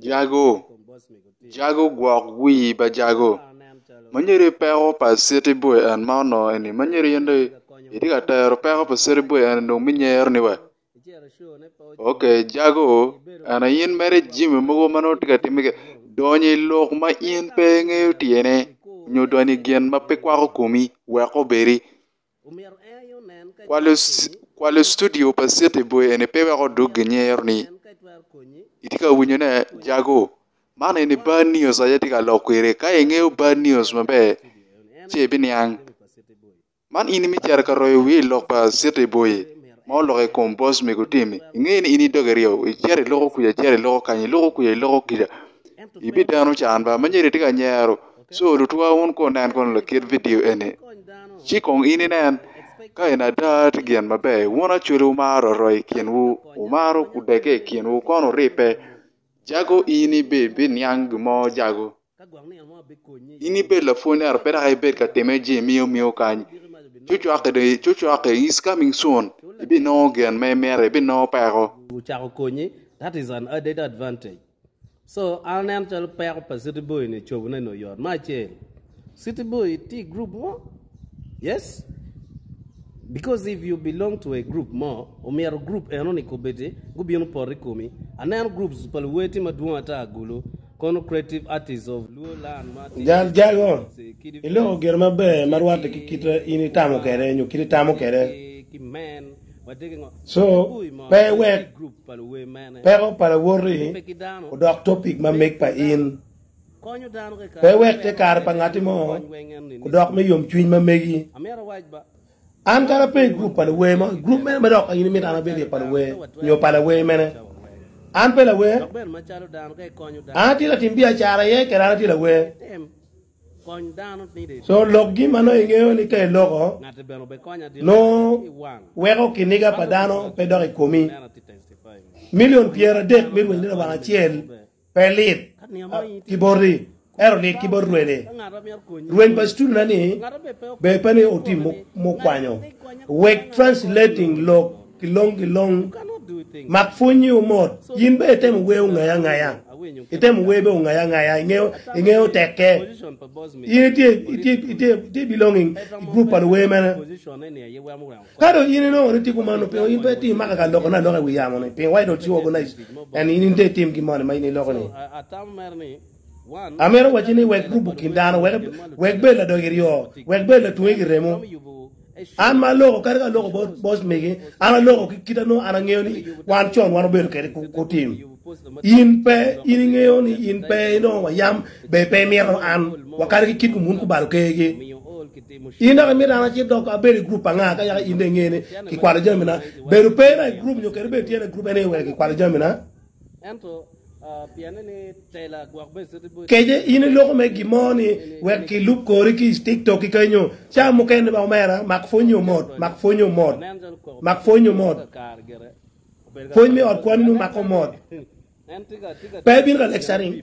Jago, Jago gwok wii pa Jago, manyeri peko pa citi boy en ma onongo eni manyeri in dong itye ka tero peko pa citi boy eni dong me nyer ni wa. Ok Jago ena in mere jami mogo ma nongo itye ka timme kene donyo i lok ma in pe ingeyo tyene nyo donyo i gin ma pe kwako komi wek obedi. Kwalo studio pa City Boy eni pe weko odug ginyero ni itye ka winyo ne jago man eni bad news aye itye ka lok kwede ka ingeyo bad news maber ci ibiniang man in imi cito ka royo wiri ilok pa City Boy ma olok i kom boss mego Temi inge ni in idoge ryeo icito iloko kwica icito iloko kany iloko kwica iloko kwica ibideno can ba ma nyo itye ka nyero Co lutwa wun ko nen kono lakit vidio eni, ci kong in inen ka en ada tye gin maber. Wun acwele wumaro aroo i kinwu, wumaro kudege i kinwu kono wuribbe. Jago in ibiniang gin mo jago? In ibed lapwony ento pe dok ibed ka timme jemiya omiyo kany. Cocwake is coming soon, ibinongo gin ma imito, ibinongo peko. So an aneno calo peko pa city boy ni cobo ne ni oyot me acel city boy tye i group mo yes because if you belong to a group mo omyero group eno ni kobedi gubino poto i komi aneno groups pa luwer tye madwong ata agulu kono creative artist of luo land ma tye Jal jago, iloko gire maber ma rwatte ki kite in itamo kwede nyo kite itamo kwede. ki men So, pe iwek peko pa lawoti odok topic ma meg pa in. Pe iwek te kare pa ngatti mo odok me yomcwiny ma megi. An kadi ape i gurup pa luwer mo, i gurup mene ma dok in imito an abed iye pa luwer nyo pa lawer mene? An pe lawer. An atye latim biacara iye kede an atye lawer. So lokgi ma nongo ingeyo ni te loko nongo weko kiniga pa dano pe dok i komi. Milion pyeradek mi rwenyo ni lubanga acel pe lit ki boti, ento lit ki bot rwene. Rweny pa cituluna ni ber pe ni otim mukwanyo. Wek translating lok ki long ki long. Mak pwonyi omot. In bene itemo wer ongayi angaya. Itemo wer bene ongayi angaya. Ingeyo tekke. In itye belonging i gurup pa luwer mene. Ka dong in inongo ni itye kumano, pingo in pe itye imako ka lokone aloka i wi yamo-ni? Pingo wacci dong ci organize en in ite itim gin moni ma in iloko-ni? Amito wacci ni wek gurup okin dano, wek bed ladog iryo, wek bed latwonge ki remo. An ma aloko kadi ka aloko bot mege, an aloko ki kite nongo an angeyo ni wan con wan obedo kede kutim. In pe in ingeyo ni in pe inongo wa yam be pe imito an wakade ki kit kumun kubalo kegi. In dok imito an acit dok abedo i group anga ka yaka in de ingeni ki kwalo jamina. Bedo pe na i group nyo kede bedo tye na i group ene wek ki kwalo jamina. Kece in iloko me gin mo ni wek ki lub kori ki i tiktok ki kenyo ca mukene ba omera mak pwony ni omot mak pwony ni omot mak pwony ni omot pwony me ot kwani ni omake omot pe ibino ka lecturing.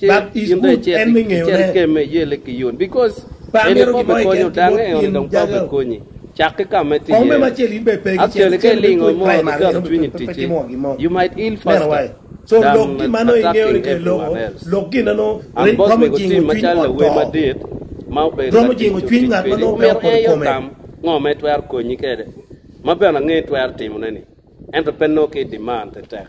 in dong icit ikemme, iyelle ki yot, bikos eni pe obikonyo dang, eni dong pe obikonyi. Cak ki ka ma itye iye-ni. Actually, ka ilingo mo ni dok cwinyi oticci, you might ill faster than attacking everyone else. And boss mego Tim macalo lawer madit ma obedo ka tic cuk tic kwedi, omyero en aye otam ngo ma etwero konyi kwede, ma bene angeyo itwero timone-ni, ento pe nongo ki i demand tetek.